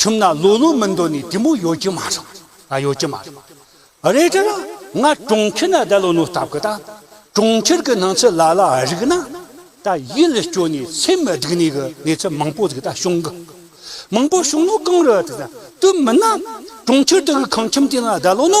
ཁྱིམ་ན་ལོ་ལོ་མི་འདོད་ནས་དེ་མོ་ཡོད་ཀྱི་མ་རེད། ཨ་ཡོད་ཀྱི་མ་རེད། རེད་དྲན། ང་གྲོང་ཁྱེར་ན་བསྡད་ལོ་ནོ་ལྟ་གི་ད། གྲོང་ཁྱེར་གི་སྣང་ཚུལ་ལ་ལ་རིག་ན། ད་ཡིད་ལ་སྐྱོ་ནས་སེམས་མི་སྡུག་ནས་གི་གནས་ཚུལ་མང་པོ་ཟིག་ད་བྱུང་གི། མང་པོ་བྱུང་ནོ་གང་རེད། དུས་མིན་ན། གྲོང་ཁྱེར་དུ་གི་ཁང་ཁྱིམ་དེ་ན་བསྡད་ལོ་ནོ།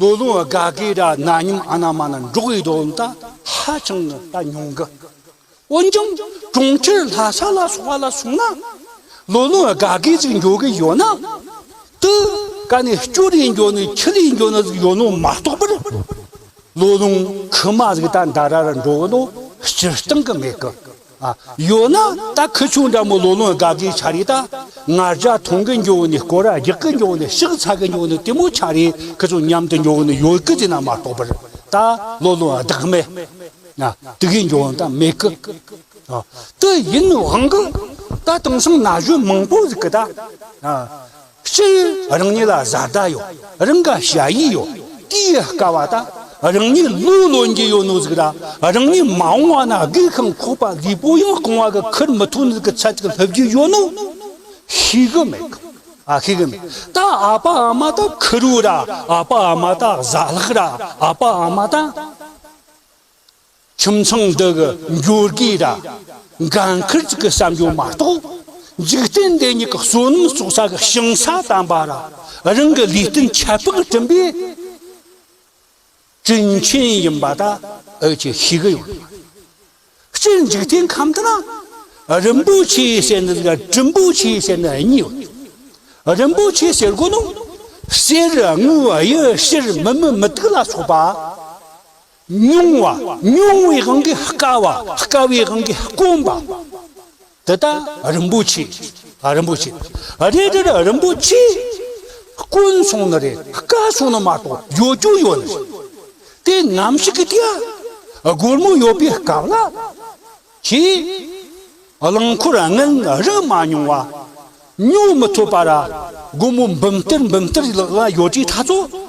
ལོ་ལོན་དགའ་དགའི་སྒྲ་རྣ་སྙོམས་ཨ་ན་མ་ན་འབྲོག་པའི་སྡོད་གནས་ཧ་ཅང་གི་ད་ཉུང་གི། འོན་ཀྱང་གྲོང་ཁྱེར་ལྷ་ས་ལ་སོགས་པ་ལ་སོང་ན་ལོ་ལོན་དགའ་དགའི་ཚིག་འབྱོར་གི་ཡོད་ན། དེ་ག་ནས་སྐྱུ་རིའི་འབྱོར་ནས་ཁྱི་རིའི་འབྱོར་ན་ཟིག་ཡོད་ནོ་མ་གཏོགས་པར། ལོ་ལོན་ཁི་མ་ཟིག་ད་འདའ་ར་ར་འགྲོ་གི་ནོ་སྤྱིར་བཏང་གི་མེད་གི། ཡོད་ན་ད་ཁུ་ཆུང་འདྲ་མོ་ལོ་ལོན་དགའ་དགའི་ཆ་རེད་ད། ངར་ལྕགས་འཐུང་གི་འགྱོ་ནི་སྐོར་ར་རྒྱག་གི་འགྱོ་ནི་ཤག་ཚ་གི་འགྱོ་ནི་དེ་མོ་ཆ་རེད་ཁུ་ཆུང་མཉམ་དུ་འགྱོ་ནི་ཡོད་གི་དེ་ན་མ་གཏོགས་པར་ད་ལོ་ལོན་བདག་མེད། དེ་གའི་འགྱོ་ད་མེད་གི། དེ་ཡིན་དབང་གི་ད་དེང་སང་ན་གཞོན་མང་པོ་ཟིག་གི་ད། སྤྱིར་རང་ཉིད་ལ་བཟའ་ཟླ་ཡོད་རང་ག་བྱ་ཡིས་ཡོད་དེ་ཡི་དཀའ་བ་ད་རང་ཉིད་བློས་བློ་འགྱེད་ཡོད་ནོ་ཟིག་ར་རང་ཉིད་མ་འོང་བ་ན་སྒུག་ཁང་ཁོག་པ་ལུས་པོ་ཡང་རྐང་བ་གི་ཁུར་མི་ཐུག་ནི་གི་ཚད་ཅིག་སླེབས་རྒྱུ་ཡོད་ནོ་ཤེས་གི་མེད་གི་ཨ་ཤེས་གི་མེད་ད་ཨ་ཕ་ཨ་མ་ད་ཁུར་བོ་ར་ཨ་ཕ་ཨ་མ་ད་བཟའ་ལག་ར་ཨ་ཕ་ཨ་མ་ད། ཁྱིམ་ཚང་འདི་གི་འབྱོར་རྒུའི་ར་འགའ་འཁུར་བཅུག་གི་བསམ་སྦྱོར་མ་གཏོགས་འཇིག་རྟེན་འདི་ཉིད་ཀྱི་བསོད་ནམས་གསོག་ས་གི་ཞིང་ས་དམ་པ་ར་རང་གི་ལུས་སྟེང་ཁྱད་འཕགས་སྤྲིན་པའི་སྤྲིན་ཆེན་ཡིན་པ་ད་འུ་ཅི་ཤེས་གི་ཡོད་མ་རེད། སྤྱིར་འཇིག་རྟེན་ཁམས་འདི་ན་རིན་པོ་ཆེ་ཟེར་ནི་དང་སྤྲིན་པོ་ཆེ་ཟེར་ནི་གཉིས་ཡོད་དེ། རིན་པོ་ཆེ་ཟེར་དགོས་ན་གསེར་དངུལ་གཡུ་ཕྱིར་མི་མི་མི་ཏིག་ལ་སོགས་པ། ཉུང་བ་ཉུང་བའི་དབང་གིས་དཀའ་བ་དཀའ་བའི་དབང་གིས་དཀོན་པ། འདི་དག་རིན་པོ་ཆེ་རིན་པོ་ཆེ་རེད་དེ་འདྲ་རིན་པོ་ཆེ་དཀོན་སོང་ནི་རེད་དཀའ་སོང་ནི་མ་གཏོགས་ཡོད་རྒྱུ་ཡོད་ནི་རེད་དེ་ནམ་ཞིག་གི་དུས་སྒོར་མོ་ཡོད་པའི་སྐབས་ལ་ཁྱེད་རླངས་འཁོར་དངུལ་རིན་མ་ཉུང་བ་ཉོ་མི་ཐུབ་པ་ར་སྒོར་མོ་འབུམ་གཏེར་འབུམ་གཏེར་ལག་ལ་ཡོད་དུས་ད་ཚོད།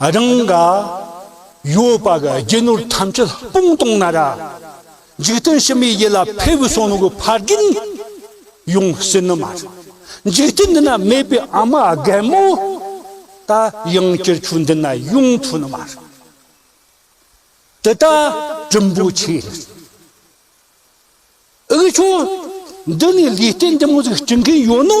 རང་ག་ཡོད་པ་ག་རྒྱུ་ནོར་ཐམས་ཅད་སྤུངས་གཏོང་ན་ར། འཇིག་རྟེན་ཕྱི་མའི་ཡིད་ལ་ཕེབས་བུ་སོང་གི་ཕ་རྒན་ཡོང་སྲིད་ནི་མ་རེད། འཇིག་རྟེན་འདི་ན་མེད་པའི་ཨ་མ་རྒན་མོ་ད་ཡང་སྤྱིར་ཆུ་འདི་ན་ཡོང་ཐུབ་ནི་མ་རེད། འདི་ད་གྲུམ་བུ་ཆེ་རེད། ཨི་ཆུ་འདི་ནས་ལུས་རྟེན་འདི་མོ་ཟིག་སྐྱི་མཁན་ཡོད་ནོ།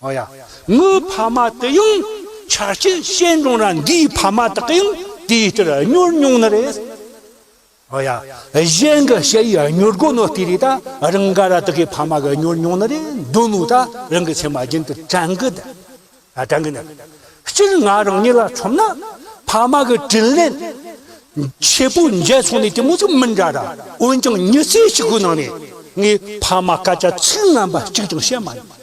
ཨོ་ཡ། ངའི་ཕ་མ་དེ་ཡང་ཆ་རྐྱེན་ཞན་རུང་ར་འགའི་ཕ་མ་དག་གིའང་དེའི་ལྟར་གཉོར་མྱོང་ནི་རེད། ཨོ་ཡ། གཞན་གྱི་ཞལ་ཡི་གཉོར་སྒོ་ནི་ལྟོས་རེད་ད། རང་ག་ར་དག་གི་ཕ་མ་གིས་གཉོར་མྱོང་ནི་རེད་འདོད་མོད་ད་རང་གི་མཚན་མ་རྒྱུན་དུ་དྲན་གི་འདུག་ཨ་དྲན་གི་འདུག་སྤྱིར་ང་རང་ཉིད་ལ་མཚོན་ན། ཕ་མ་གི་དྲིན་ལན། ཆེ་པོ་འཇལ་ཚོང་ནི་དེ་མོ་ཟིག་མི་འདྲ་ད། འོན་ཀྱང་མྱི་ཚེ་གཅིག་པོའི་ནང་ནས། ངའི་ཕ་མ་སྐད་ཆ་ཚིག་ངན་པ་གཅིག་ཀྱང་བཤད་མ་མྱོང།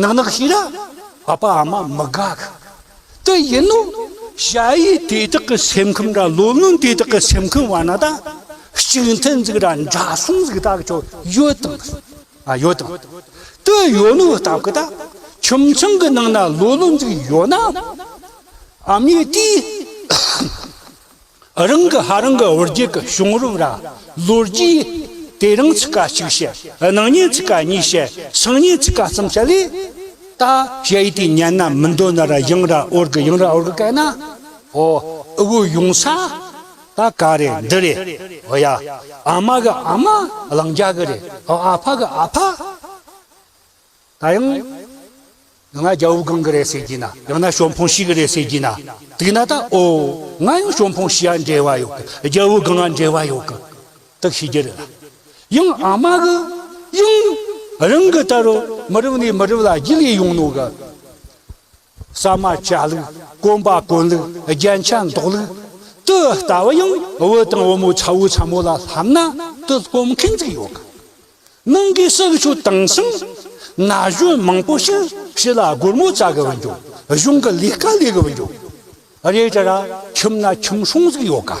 ནག་ནག་ཤི་ར་ཨ་ཕ་ཨ་མ་མི་དགའ་གི་དེ་ཡིན་ནོ། བྱ་ཡི་དེ་དག་གི་སེམས་ཁམས་ར་ལོ་ལོན་དེ་དག་གི་སེམས་ཁམས་བ་ན་ད་གཅིག་མཐུན་འཛིག་ར་འདྲ་གསུམ་འཛིག་ད་གི་ཆོ་ཡོད་དང་ཨ་ཡོད་དང་དེ་ཡོད་ནོ་ད་གི་ད་ཁྱིམ་ཚང་གི་ནང་ན་ལོ་ལོ་འཛིག་ཡོད་ན་ཨ་མའི་དེའི། རང་གི་ཧ་རང་གི་བུ་རྒྱུད་ཀྱི་བྱུང་རབས་ར་ལོ་རྒྱུས་དེ་རང་ཚིག་ཀ་གཅིག་བཤད་སྣང་བརྙན་ཚིག་ཀ་གཉིས་བཤད་སང་བརྙན་ཚིག་ཀ་གསུམ་བཤད་ལེ། ད་བཤད་ཡི་དེ་ཉན་ན་མི་འདོད་ན་ར་ཡང་ར་ཨོར་གི་ཡང་ར་ཨོར་གི་སྐད་ན་ཨོ་ཨི་བུ་ཡོང་ས་ད་ག་རེད་འདི་རེད་ཨོ་ཡ་ཨ་མ་གི་ཨ་མ་གླང་རྒྱ་གི་རེད་ཨོ་ཨ་ཕ་གི་ཨ་ཕ། ད་ཡང། ང་རྒྱ་བོད་གང་གི་རེད་ཟེར་གྱིས་ན་ཡང་ན་ཞོ་འཕོང་ཞིག་གི་རེད་ཟེར་གྱིས་ན་དུས་ན་ད་ཨོ། ང་ཡང་ཞོ་འཕོང་ཞིག་ཡང་འབྲེལ་བ་ཡོད་གི་རྒྱ་བོད་གང་ཡང་འབྲེལ་བ་ཡོད་གི་དག་ཤེས་ཀྱི་རེད་ལ། ཡང་ཨ་མ་གི་ཡང། རང་གི་ལྟར་རོ་མི་རབས་ནས་མི་རབས་ལ་རྒྱུས་ལས་ཡོང་ནོ་གི། ས་མ་བཅའ་ལུགས། གོམ་པ་གོན་ལུགས་རྒྱན་ཆ་འདོགས་ལུགས། དུ་ལྟ་བུ་ཡང་བུ་དང་བུ་མོའི་ཚ་བོའི་ཚ་མོ་ལ་ལྷམ་ན་དུ་སྐོམ་མཁན་ཚིག་ཡོད་གི། ནང་གི་སྲོག་ཆུ་དྭངས་ཤིང་ན་གཞོན་མང་པོ་ཞིག་ཕྱི་ལ་སྒོར་མོ་བཙལ་གི་བུད་འགྱོ། གཞུང་གི་ལས་ཀ་ལས་གི་བུད་འགྱོ། རེད་དྲ་ར་ཁྱིམ་ན་ཁྱིམ་སྲུང་ཟིག་ཡོད་གི།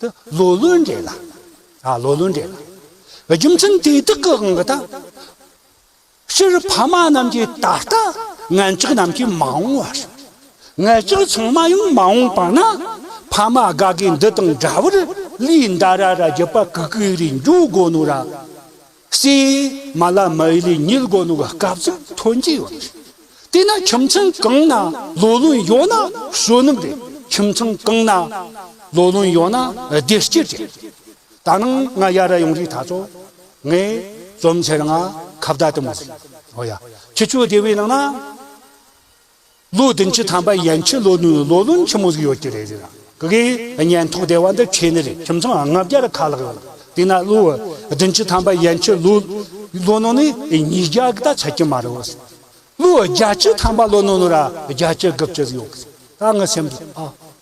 དུ་ལོ་ལོན་འདྲེ་ལ། ཨ་ལོ་ལོན་འདྲེ་ལ། རྒྱུ་མཚན་དེ་དག་གི་འང་གི་ད། སྤྱིར་ཕ་མ་རྣམས་ཀྱིས་ད་ལྟ་ངན་ལྕགས་རྣམས་ཀྱིས་མ་འོངས་བར། ངན་ལྕགས་ཚང་མ་ཡང་མ་འོངས་པ་ན། ཕ་མ་དགའ་དགའི་འདི་དང་འདྲ་བར་ལུས་འདའ་ར་ར་རྒྱུ་པ་གུ་གུའི་རིགས་འབྱུང་དགོས་ནོ་ར། སྲིད། མ་ལ་མ་ཡི་ལི་ཉིལ་སྒོ་ནུག་སྐབས་ཚིག་ཐོན་གྱི་ཡོད་རེད། དེས་ན་ཁྱིམ་ཚང་གང་ན་ལོ་ལོན་ཡོད་ན་གཞོན་ནུ་རེད་ཁྱིམ་ཚང་གང་ན་ལོ་ལོན་ཡོད་ན་བདེ་སྐྱིད་རེད། ད་ནང་ང་ཡར་ཡོང་རིགས་ད་ཚོ་ངས་རྩོམ་འཆལ་ང་ཁ་བརྡ་དེ་མོ་རེད། ཨོ་ཡ། ཁྱི་ཆོས་སྡེ་བའི་ནང་ན། ལོ་བདུན་ཅུ་ཐམ་པ་ཡན་ཆོད་ལོ་ནུའི་ལོ་ལོན་ཆེན་མོ་ཟིག་ཡོད་ཀྱི་རེད་ཟེར། གི་གི། ཉན་ཐོག་སྡེ་བ་འདི་ཁྱེད་ནི་རེད་ཁྱིམ་ཚང་ལྔ་བརྒྱར་ཁ་ལག་ཡོད། དེས་ན་ལོ་བདུན་ཅུ་ཐམ་པ་ཡན་ཆོད་ལོ་ལོ་ནོ་ནི་ཉིས་བརྒྱ་གི་ད་ཆ་ཀྱི་མ་རེད་བོ། ལོ་བརྒྱ་ཅུ་ཐམ་པ་ལོ་ནོ་ནོ་ར་བརྒྱ་ཅུ་དགུ་བཅུ་ཟིག་ཡོད་གི་རེད་ད་ངའི་སེམས་སུ་ཨ།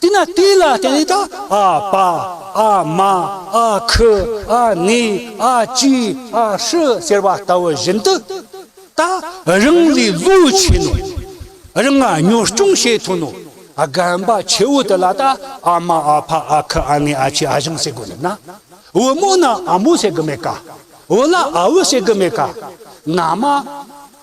དེས་ན་དེ་ལ་བརྟེན་ནས་དང་ཨ་པ་ཨ་མ་ཨ་ཁུ་ཨ་ནེ་ཨ་ཅེ་ཨ་ཧྲི་ཟེར་བ་ལྟ་བུ་བཞིན་དུ། ད་རིང་ལས་བློས་ཆེ་ནོ། རང་ང་གཉོར་སྐྱོང་བྱེད་ཐུབ་ནོ། རྒན་པ་ཆེ་བོ་དེ་ལ་ད་ཨ་མ་ཨ་ཕ་ཨ་ཁུ་ཨ་ནེ་ཨ་ཅེ་ཨ་ཞང་ཟེར་དགོས་འདུག་ན། བུ་མོ་ན་ཨ་མོ་ཟེར་གི་མེད་ག། བུ་ལ་ཨ་བུ་ཟེར་གི་མེད་ག། ན་མ།